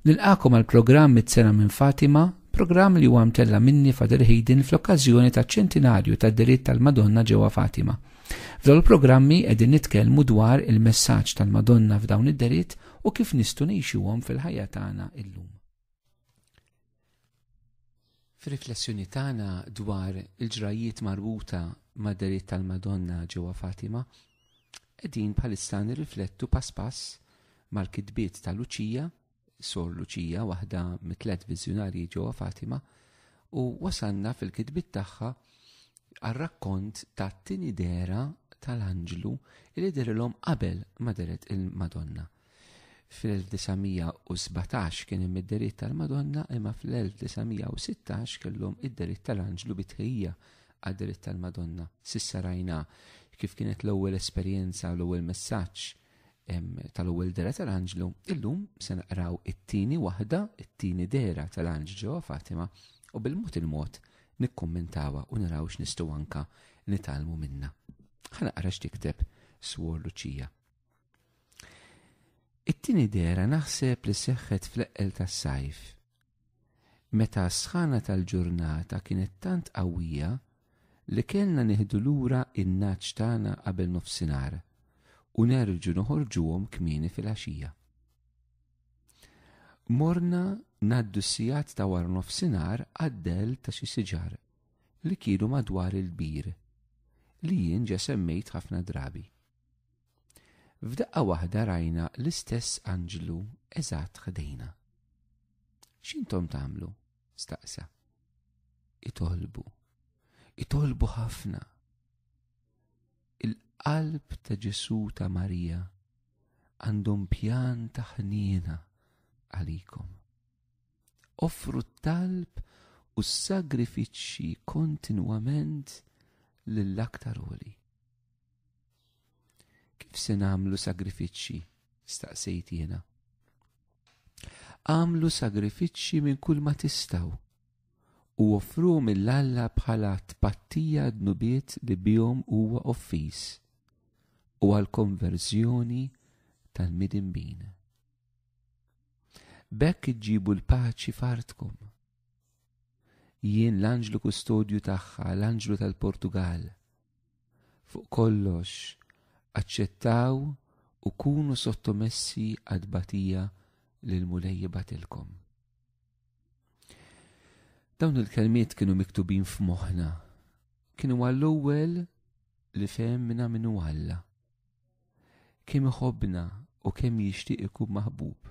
Nilqakom għal programm mit-sena minn Fatima, programm li huwa mtella minni Fader Hayden fl-okkażjoni ta' ċentinarju ta' diritt tal-Madonna ġewwa Fatima. F'dawn il-programmi qegħdin nitkellmu dwar il-messaġġ tal-Madonna f'dawn id-deritt u kif nistgħu ngħixuhom fil-ħajja tagħna illum. Fir-riflessjoni tagħna dwar il-ġrajiet marbuta ma' deriet tal-Madonna ġewwa Fatima, qegħdin bħalissa nirriflettu pass pass mal-kitbiet ta' Luċija, sor Luċija waħda mit-tlet viżjunarji ġewwa Fatima, u wasanna fil-kitbiet tagħha għar-rakkont ta' tini dera tal-anġlu li derilhom qabel ma deret il-Madonna. Fil-1917 kien hemm id-deritt tal-Madonna imma fl-1916 kellhom id-deritt tal-Anġlu bitħejja għad-deritt tal-Madonna. Sissa rajna kif kienet l-ewwel esperjenza u l-ewwel messaġġ tal-ewwel dera tal-Anġlu, illum se naqraw it-tieni waħda, it-tieni dera tal-Anġlu ġewwa Fatima u bil-mod il-mod nikkummentawha u naraw x'nistgħu anka nitalmu minna. Ħanaqra x'tikteb Swor Luċija. It-tieni dera naħseb li seħħet fl-eqqel tas-sajf. Meta s-sħana tal-ġurnata kienet tant qawwija li kellna nieħdu lura in-naċ tagħna qabel nofsinhar u nerġu noħorġuhom kmieni fil-għaxija. Morna naddu s-sijat ta' war nofsinhar għaddel ta' xi siġar li kienu madwar il-bir li jien ġa semmejt ħafna drabi. F'daqqa waħda rajna l-istess anġlu eżatt ħdejna. X'intom tagħmlu? staqsa. Itolbu. Itolbu ħafna. Il-qalb ta' Ġesu ta' Marija għandhom pjan ta' ħniena għalikom. Offru t-talb u s-sagrifiċċji kontinwament lill-aktar oli. Kif se nagħmlu sagrifiċċji? staqsejt jiena. Għamlu sagrifiċċji minn kull ma tistaw u offru mill-Alla bħala tpattija dnubiet li bihom huwa offiż u għal konverżjoni tal-midinbin. Bekk iġġibu l-paċi fartkom. Jien l-anġlu kustodju tagħha, l-anġlu tal-Portugal, Fuq kollox, aċċettaw u kunu sottomessi għad-batija li l-Mulej jibatilkom. Dawn il-kelmiet kienu miktubin f'moħħna. Kienu għall-ewwel li fehmna minnu Alla. Kemm iħobbna u kemm jixtieq ikun maħbub.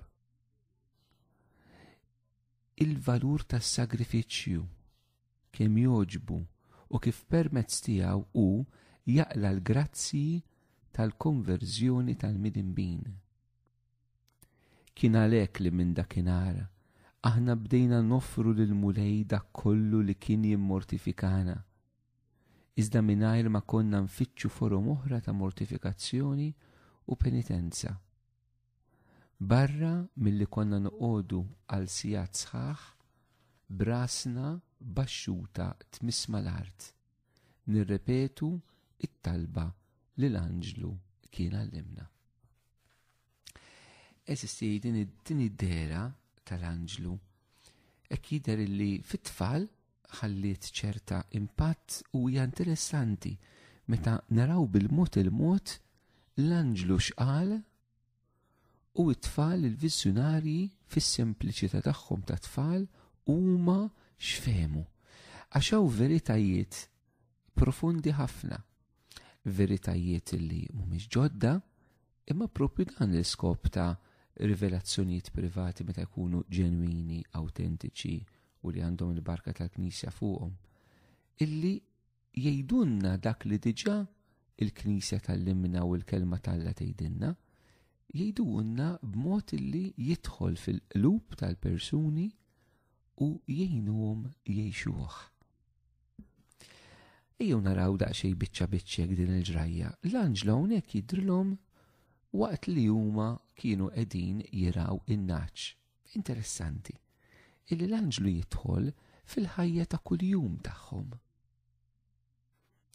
Il-valur tas-sagrifiċċju kemm jogħġbu u kif permezz tiegħu hu jaqla' l-grazzji tal-konverżjoni tal-midinbin. Kien għalhekk li minn dakinhar aħna bdejna noffru lil Mulej dak kollu li kien jimmortifikana. Iżda mingħajr ma konna nfittxu forom oħra ta' mortifikazzjoni u penitenza. Barra milli konna noqogħdu għal sigħat sħaħ brasna baxxuta tmiss mal-art, nirrepetu it-talba li l-anġlu kien għallimna. Eżisti din id-dera tal-anġlu, ek jider li fit-tfal ħalliet ċerta impatt u hija interessanti meta naraw bil-mod il-mod l-anġlu xqal u t-tfal il-vizzjonarji fis-sempliċità tagħhom ta' tfal huma xfemu. Għax hawn veritajiet profondi ħafna veritajiet li mhumiex ġodda, imma propju dan l-iskop ta' rivelazzjonijiet privati meta jkunu ġenwini, awtentiċi u li għandhom il-barka tal-Knisja fuqhom, illi jgħidunna dak li diġà il-Knisja tal-limna u l-kelma tal-la tgħidilna, jgħidunna b'mod illi jidħol fil-qlub tal-persuni u jgħinuhom jgħixuh. Ejjew naraw daqsxej biċċa biċċek din il-ġrajja. L-anġlu hawnhekk jidrilhom waqt li huma kienu qegħdin jiraw in-naċ. Interessanti. Illi l-anġlu jidħol fil-ħajja ta' kuljum tagħhom.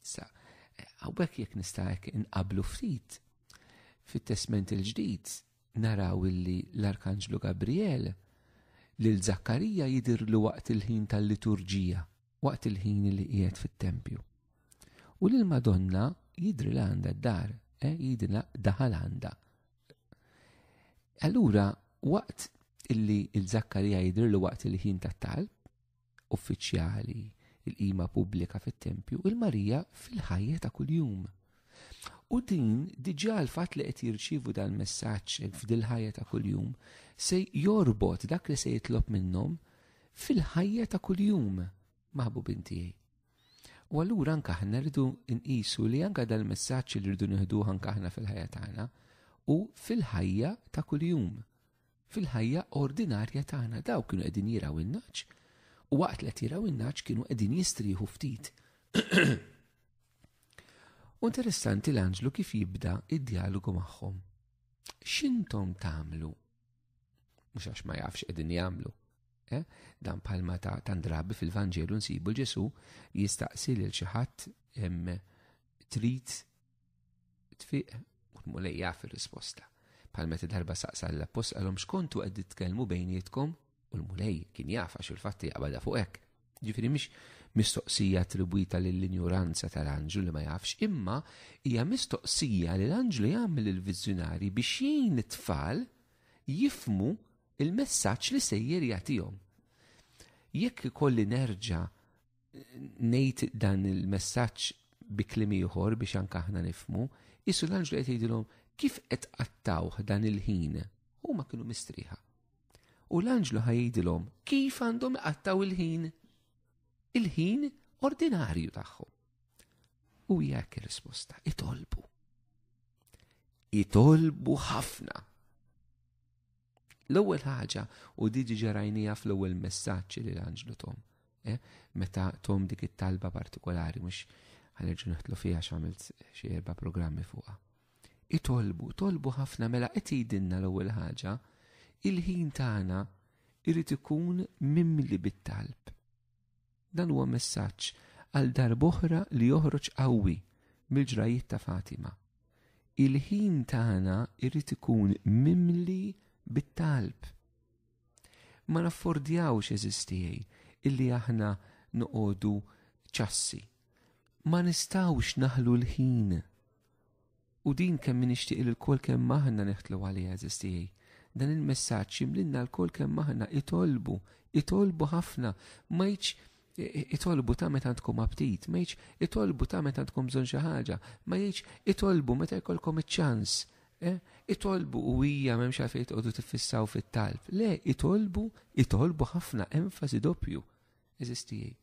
Sa, għawbek jek nista' inqablu ftit fit-testment il-ġdid naraw illi l-Arkanġlu Gabriel lil Zakkarija jidirlu waqt il-ħin tal-liturġija, waqt il-ħin li qiegħed fit-tempju. U lil Madonna jidri l għandha d-dar, eh, jidri daħal għandha. Allura, waqt illi il-Zakkarija jidri l waqt il-ħin tat-talb, uffiċjali, il-qima pubblika fit-tempju, il-Marija fil-ħajja ta' kuljum. U din diġà l-fatt li qed jirċievu dan messaġġ f'dil-ħajja ta' kuljum se jorbot dak li se jitlob minnhom fil-ħajja ta' kuljum maħbu bintijaj. U allura anke aħna rridu nqisu li anke dal-messaġġ li rridu nieħdu anke aħna fil-ħajja tagħna u fil-ħajja ta' kuljum. Fil-ħajja ordinarja tagħna dawk kienu qegħdin jiraw in-nagħaġ u waqt li qed jiraw in-nagħaġ kienu qegħdin jistrieħu ftit. U interessanti l-anġlu kif jibda id-dialogu magħhom. X'intom tagħmlu? Mhux għax ma jafx qegħdin jagħmlu. Eh? Dan palma ta' tandrabi fil-Vanġelu nsibu l-Ġesu jistaqsi lil xi ħadd trid tfiq u l-mulej jaf ir-risposta. Pal meta darba saqsa l-appost għalhom xkontu qed titkellmu bejnietkom u l-mulej kien jaf għax il-fatti jaqbada fuq hekk. Ġifieri mhix mistoqsija attribwita lill-injuranza tal-anġlu li ma jafx, imma hija mistoqsija li l-anġlu jagħmel il-viżjonari biex jgħin it-tfal jifmu il-messaġġ li sejjer jagħtihom. Jekk ikolli nerġa' Ngħid dan il-messaġġ bi kliem ieħor biex anke aħna nifmu, isu l-anġlu qed jgħidilhom kif qed qattawh dan il-ħin, huma kienu mistrieħa. U l-anġlu ħajdilhom kif għandhom iqattaw il-ħin, il-ħin ordinarju tagħhom. U jekk risposta, itolbu. Itolbu ħafna. L-ewwel ħaġa u di diġa rajnija fl-ewwel messaġġ li l-Anġlu Tom. Eh? Meta Tom dik it-talba partikolari mhux ħanerġu neħtlu fiha x'għamilt xi erba' programmi fuqha. Itolbu, tolbu ħafna mela qed jgħidilna l-ewwel ħaġa, il-ħin tagħna irid ikun mimli bit-talb. Dan huwa messaġġ għal darboħra li joħroġ qawwi mill-ġrajiet ta' Fatima. Il-ħin tagħna irid ikun mimli bit-talb. Ma naffordjawx eżistijaj illi aħna noqogħdu ċassi. Ma nistawx naħlu l-ħin U din kemm nixtieq li lkoll kemm aħna neħtlu għaliha eżis tiegħi. Dan il-messaġġ jimlinna lkoll kemm aħna itolbu, itolbu ħafna, ma jitx itolbu ta' meta għandkom aptit, ma jitx itolbu ta' meta għandkom bżonn xi ħaġa, ma jitx itolbu meta jkollkom iċ-ċans. Eh, itolbu u hija m'hemmx għalfejn tqogħdu tiffissaw fit-talb. Le, itolbu, itolbu ħafna enfasi doppju. Eżistijie.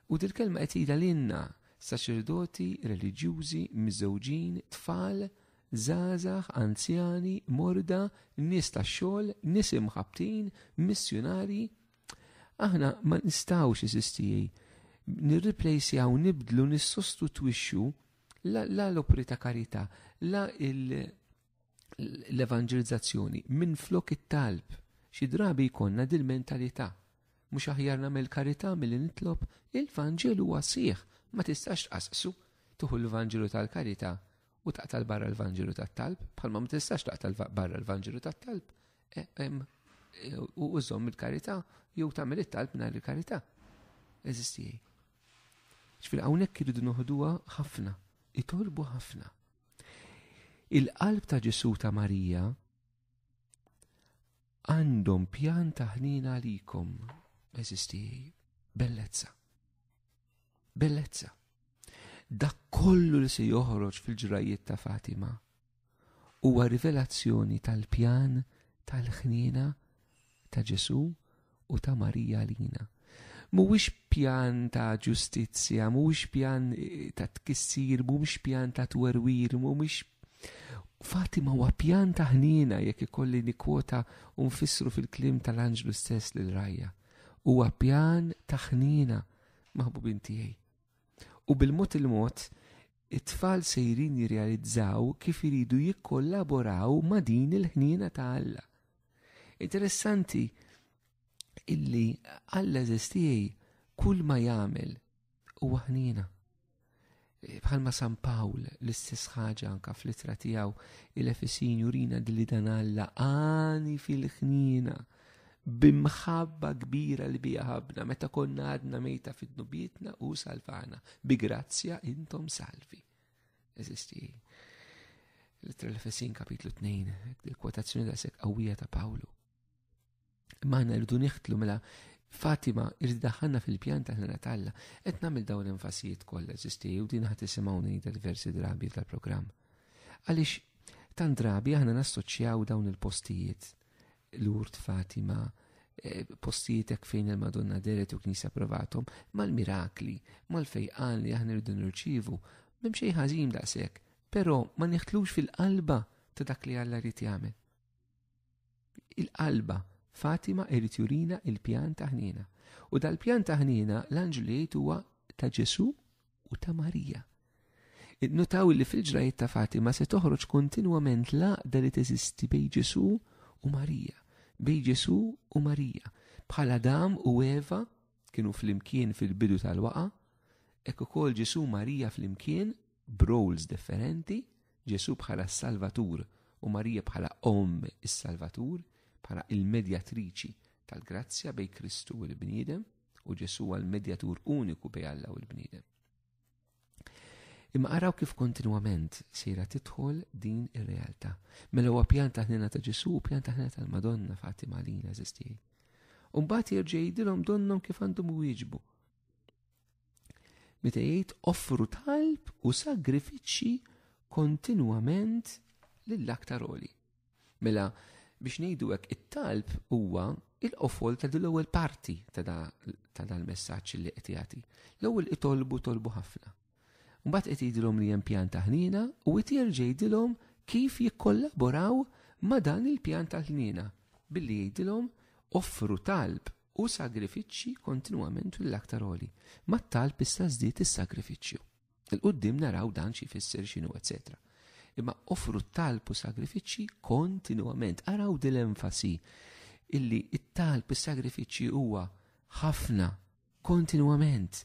U dil-kelma qed tgħidha lilna, saċerdoti, reliġjużi, miżewġin, tfal, żgħażagħ, anzjani, morda, nies tax-xogħol, nies imħabbtin, missjunarji. Aħna ma nistgħux eżistijie nirriplejsjaw, nibdlu, nissostitwixxu la l-opri ta' karità, la il- l-evanġelizzazzjoni minn flok it-talb. Xi drabi jkollna dil-mentalità. Mhux aħjar nagħmel karità milli nitlob il-Vanġelu għasih. Ma tistax tqasqsu tuħu l-Vanġelu tal-karità u taqtal barra l-Vanġelu tat-talb, bħalma ma tistax taqtal barra l-Vanġelu tat-talb. E, e, u użom il-karità jew tagħmel it-talb nhar il-karità. Eżistijaj. Ġifieri hawnhekk iridu noħduha ħafna, itolbu ħafna. Il-qalb ta' Ġesu ta' Marija għandhom pjan ta' ħnina għalikom, eżisti bellezza. Bellezza. Dak kollu li se joħroġ fil-ġrajiet ta' Fatima huwa rivelazzjoni tal-pjan tal-ħnina ta' Ġesù u ta' Marija għalina. Mhuwiex pjan ta' ġustizzja, mhuwiex pjan eh, ta' tkissir, mhuwiex pjan ta' twerwir, mhuwiex Fatima huwa pjan ta' ħniena jekk ikolli nikwota u nfissru fil-klim tal-anġlu stess lil rajja. Huwa pjan ta' ħniena maħbubin tiegħi. U bil-mod il-mod, it-tfal sejrin jirrealizzaw kif iridu jikkollaboraw ma' din il-ħniena ta' Alla. Interessanti illi Alla eżistijaj kull ma jagħmel u aħnina. E, bħalma San Pawl l-istess ħaġa anka fl-itra tiegħu il-Efesin jurina dilli dan Alla għani fil-ħnina bimħabba kbira li bija ħabna meta konna għadna mejta fid-nubietna u salvana. Bi grazzja intom salvi. Eżisti. L-ittra l-Efesin kapitlu 2, il-kwotazzjoni da' sekk qawwija ta' Pawlu. Imma għanna rridu niħtlu mela Fatima irrid daħħalna fil-pjan ta' ħna talla, qed nagħmel dawn l-enfasijiet kollha eżisti u din ħadd isimgħu ngħidha diversi drabi tal-programm. Għaliex tant drabi aħna nassoċjaw dawn il-postijiet L-urt Fatima eh, postietek fejn il-Madonna deret u knisa provatom, mal-mirakli, mal-fejqan li aħna rridu nirċivu, minn xejn ħażin daqshekk, però ma niħtlux fil-qalba ta' dak li Alla rrit jagħmel. Il-qalba Fatima irrit jurina il-pjan taħnina. U dal-pjan taħnina l-anġlu jgħid huwa ta' Ġesu u ta' Marija. Nutaw li fil-ġrajiet ta' Fatima se toħroġ kontinwament l-għaqda li teżisti bej Ġesu u Marija, bej Ġesu u Marija, bħala dam u Eva kienu fl-imkien fil-bidu tal-waqa, ek ukoll Ġesu Marija fl-imkien b'roles differenti, Ġesu bħala s-Salvatur u Marija bħala Om is-Salvatur, bħala il-medjatriċi tal-grazzja bej Kristu u l-bniedem. u Ġesu għal medjatur uniku bej Alla u l-bniedem. Imma araw kif kontinwament sejra titħol din ir-realtà. Mela huwa pjan taħnina ta' Ġesu u pjan taħnina tal-Madonna Fatima Lina eżistijaj. Umbat jirġej jidilhom donnom kif għandhom wieġbu. Meta jgħid offru talb u sagrifiċċji kontinwament lill-aktar oli. Mela, biex ngħidu hekk, it-talb huwa il-qofol ta' din l-ewwel parti ta' dan il-messaġġ li qed jagħti. L-ewwel itolbu tolbu ħafna. Mbagħad qed jgħidilhom li hemm pjan ta' ħniena u qed jerġa' jgħidilhom kif jikkollaboraw ma' dan il-pjan ta' ħniena billi jgħidilhom offru talb u sagrifiċċji kontinwament l-aktar oli. Ma' talb issa żdied is-sagrifiċċju. Il-qoddim naraw dan xi fisser x'inhu, etc. Imma offru talb u sagrifiċċji kontinwament. Araw din l-enfasi illi it-talb is-sagrifiċċji huwa ħafna kontinwament.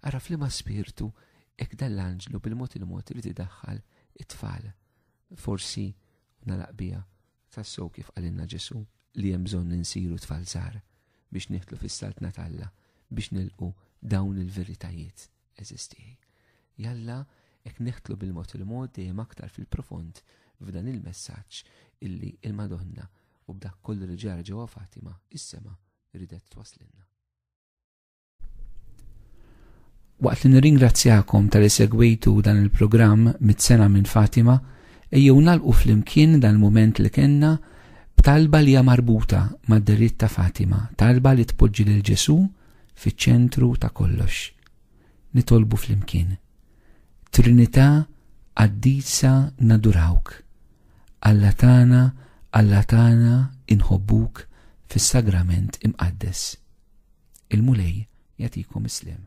Ara f'liema spirtu hekk dan l-anġlu bil-mod il-mod irid idaħħal it-tfal. Forsi nalaq bija tassew kif qalilna Ġesu li hemm bżonn insiru tfal żgħar biex nieħdlu fis-saltna t'Alla biex nilqu dawn il-veritajiet. Eżisti. Jalla, ek neħtlu bil-mod il-mod dejjem aktar fil-profond f'dan il-messaġġ illi il-Madonna u b'dak kollu li ġara ġewwa Fatima is-sema ridet twaslinna. Waqt li nirringrazzjakom tal segwitu dan il-programm mit-sena minn Fatima, ejjew nalqu fl-imkien dan il-moment li kenna b'talba li hija marbuta mad-deritt ta' Fatima, talba li tpoġġi lil Ġesu' fiċ-ċentru ta' kollox. Nitolbu flimkien. Trinità Qaddisa nadurawk. Alla tagħna, Alla tagħna inħobbuk fis-Sagrament Imqaddes. Il-Mulej jagħtikom islem.